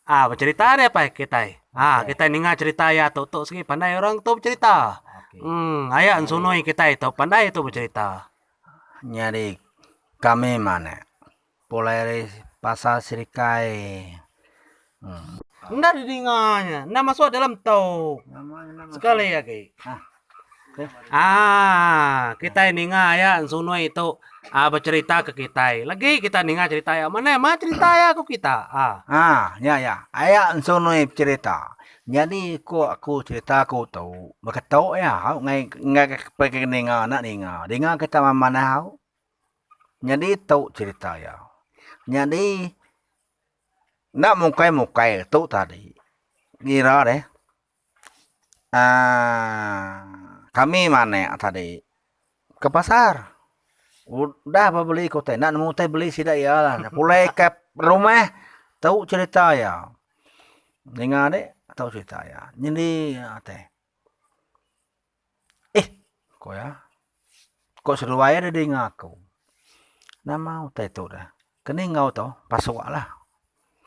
Ah becerita dia apai kitai. Ah okay. kitai ninga cerita ya tu tu segi pandai orang tu bercerita. Okay. Hmm aya sunoi kitai tu pandai tu bercerita. Nyadi kami mane pulai pasal serikai Enda didinga nya. Enda masuk dalam tu. Sekali agi. Haa kitai ninga iya Sunui tu becerita ke kitai. Legi kita ninga cerita iya. Mane meh cerita iya ku kita. Haa nya iya. Iya Sunui becerita. Nyadi ku aku cerita ku tu beketok iya au ngai ngagai ninga enda ninga. Dinga kita manah au. Nyadi tu cerita iya. Nyadi. Enda mukai-mukai tu tadi ngira deh um kami manek tadi ke pasar udah ba beli ke utai enda nemu utai beli sida iya lah pulai ka rumah tu cerita iya ninga deh tu cerita iya nyadi ate. Eh! ku iya. Ko seduai iya da dinga aku. Nama utai tu dah. Keni enggau tu, pasuklah.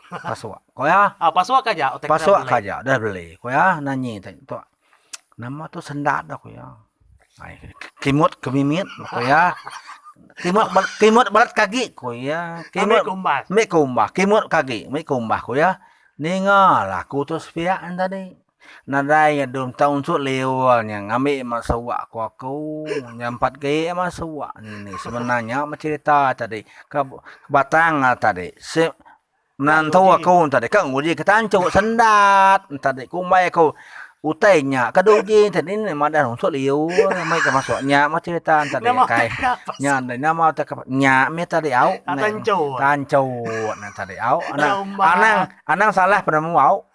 Pasuk, ku iya. Pasuk ka aja utai ke pasuk ka aja udah beli. Ku iya nanyi utai tu. Nama tu sendat dah ku iya. Ai, kimut ke mimit ku iya. Kimut ba kimut balat ke agi ku iya. Kimut kumbah. Kimut ke agi, meh kumbah ku iya. Ninga lah aku tu sepiak tadi. Nadai iya dum tau unsut liur nya ngambi ima suak ku aku nya empat gaye ima suak ni sebenar nya meh cerita tadi ke batang a tadi sik menantu aku tadi ka nguji ke tancho sendat tadi kumbai aku utai nya ke dau uji tadi ni madah unsut liur meh ke masuk nya meh cerita tadi kai nya deh nama utai ke nya meh tadi au tancho tadi au anang anang salah penemu au.